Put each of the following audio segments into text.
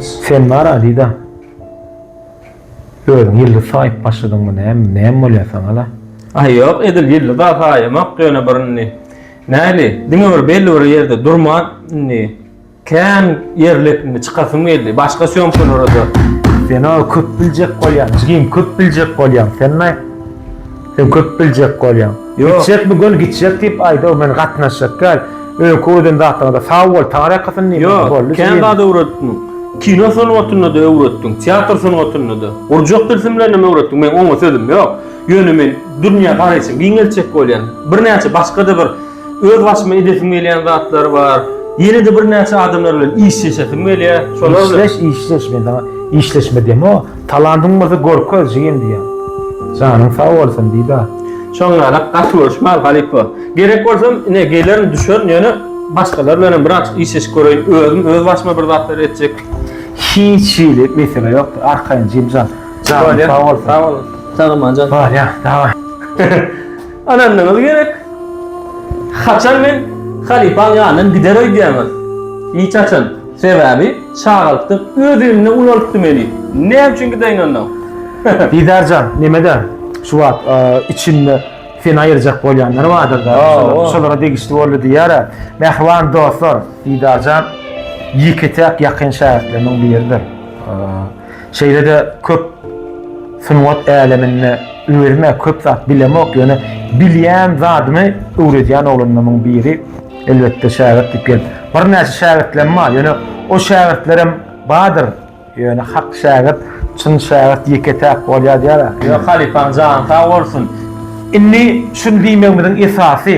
Sen bar Aziza. Özüň ýyldyz saýyp başladyňmy näme, näme bolýar saňa-la? Aý ýok, edil ýyldyz-a saýamok, ýöne bir indi, näli, diňe bir belli bir ýerde durman, indi kän ýer lepimi çykasym geldi, başga sýomkalary-da. Sen-ä köp biljek bolýaň, jigim, köp biljek bolýaň sen-aý. Sen köp biljek bolýaň. Gitjek bu göl gitjek diýip aýdaw men gatnaşjak däl. Öňki öwreden zatlaryňda sag bol, Taňry ýakasyn diýme. Ýok, boldy diýme. Kän zat öwretdiň. Kino sungatynda-da öwretdiň, teatr sungatynda-da. Gurjak tilsimlerinem öwretdiň. Meň oňa sözüm ýok. Ýöne men dünýä garaýşymy giňeltjek bolýan. Birnäçe başga-da bir Öz başyma edesim gelýän zatlar bar. Ýene-de birnäçe adamlar bilen işleşesim gelýär. Şolar bilen. Işleş, işleş. Men saňa işleşme diýemok. O, talantyň bolsa görkez, jigim diýýän. Janyň sag bolsun, diýdi-ä. Şoňňalak gaty görüşmäli, halypa. Gerek bolsam, ine, gelerin, düşerin, ýöne başgalar bilenem bir aç işleşip göreýin. Özüm öz başyma bir zatlar etjek. Hiç hili mesele ýokdur. Arkaýyn, jigimjan. Janyň sag bolsun. Sag bol. Sag bolmaly jan. Barýa, daway. Ynandyňyz gerek. Haçan men halypaň ýanyndan gider öýdýäňiz? Hiç haçan. Sebäbi çagalykdan öz elinde ulalypdy meni. Näme üçin gideýin onda? Didar jan, neme-de, şu wagt içinde seni aýyrjak bolýanlar bardyr-da, şolara degişli boldy diýýär-ä. Mähriban dostlar, Didar jan ýeke-täk ýakyn şägirtlerimiň biridir. Şeýle-de köp sungat äleminde özüm-ä köp zat bilemok, ýöne bilýän zadymy öwredýän oglanlarymyň biri, elbetde, şägirt diýip gelip. Birnäçe şägirtlerim bar, ýöne o şägirtlerim bardyr, ýöne hak şägirt, çyn şägirt ýeke-täk bolýar diýýär-ä. Ýöne halypaň jany sag bolsun. Indi şuny diýmegimiziň esasy,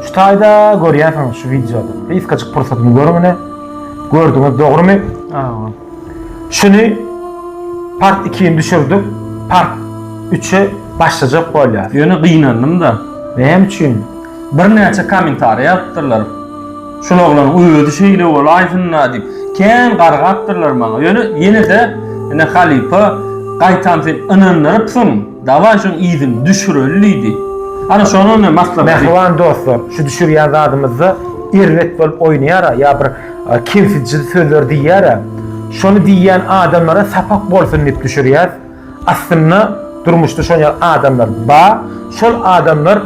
şu taýda görýänsiňiz şu wideoda, gysgajyk pursatymy görüň ine, gördüňiz, dogrumy? Şuny part ikin düşürdik, part üçe başlajak bolýas. Ýöne gynandym-da. Näme üçin? Birnäçe kommentariý ýazypdyrlar. Şul oglanyň özi şeýle bolaýsyn-da diýip, kän gargapdyrlar maňa. Ýöne ýene-de ine halypa gaýtam sen ynandyrypsyň. Dawaý şoň yzyny düşüreli diýdi. Ana şonam men maslahat berip. Mähriban dostlar, şu düşürýän zadymyzda erbet bolup oýnaýar-a, ýa bir kemsidiji sözler diýýär-ä. Şony diýýän adamlara sapak bolsun diýip düşürýäs. Aslynda durmuşda şonýaly adamlar bar. Şol adamlar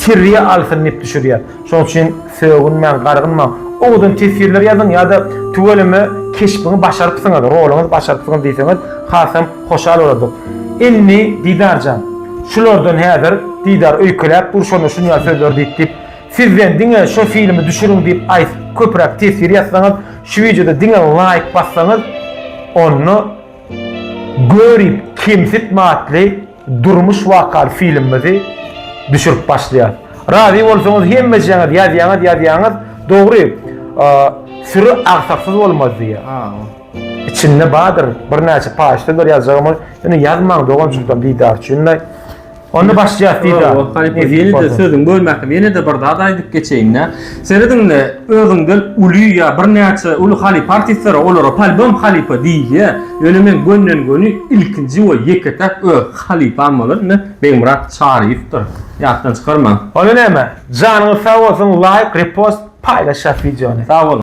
terbiýe alsyn diýip düşürýäs. Şonuň üçin sögünmäň, gargynmaň. Owadan teswirler ýazyň ýa-da tüweleme keşbiňi başarypsyňyz, roluňyzy başarypsyňyz diýseňiz, hasam hoşal bolardyk. Indi, Didar jan, şulardan häzir, Didar öýkeläp dur, şonda şunýa sözler diýip diýip, sizden diňe şo filmi düşüriň diýip aýt, köpräk teswir ýazsaňyz, şu wideoda diňe laýk bassaňyz, onda Görip kemsitme atly Durmuş wakaly filmimizi düşürip başlaýas. Razy bolsaňyz hemmejeňiz ýazýaňyz ýazýaňyz dogry süri agsaksyz bolmaz diýýä. Içinde bardyr birnäçe paşdadyr ýazjagymy ýöne ýazmaň dogan çultam didar üçinle. Onda başlaýas didar. Ýene-de sözüň bölmäkim ýene-de bir zat aýdyp geçeýin-de. Serediň-le, özüňden uly ýa birnäçe uly halypa artistlere olara polbem halypa diýilýär. Ýöne men gönden-göni ilkinji we ýeke-täk öz halypam bolan indi Begmyrat Çaryýewdir. Ýatdan çykarmaň. Onda näme? Janyňyz sag bolsun, laýk, repost, paýlaşýas wideony. Sag boluň.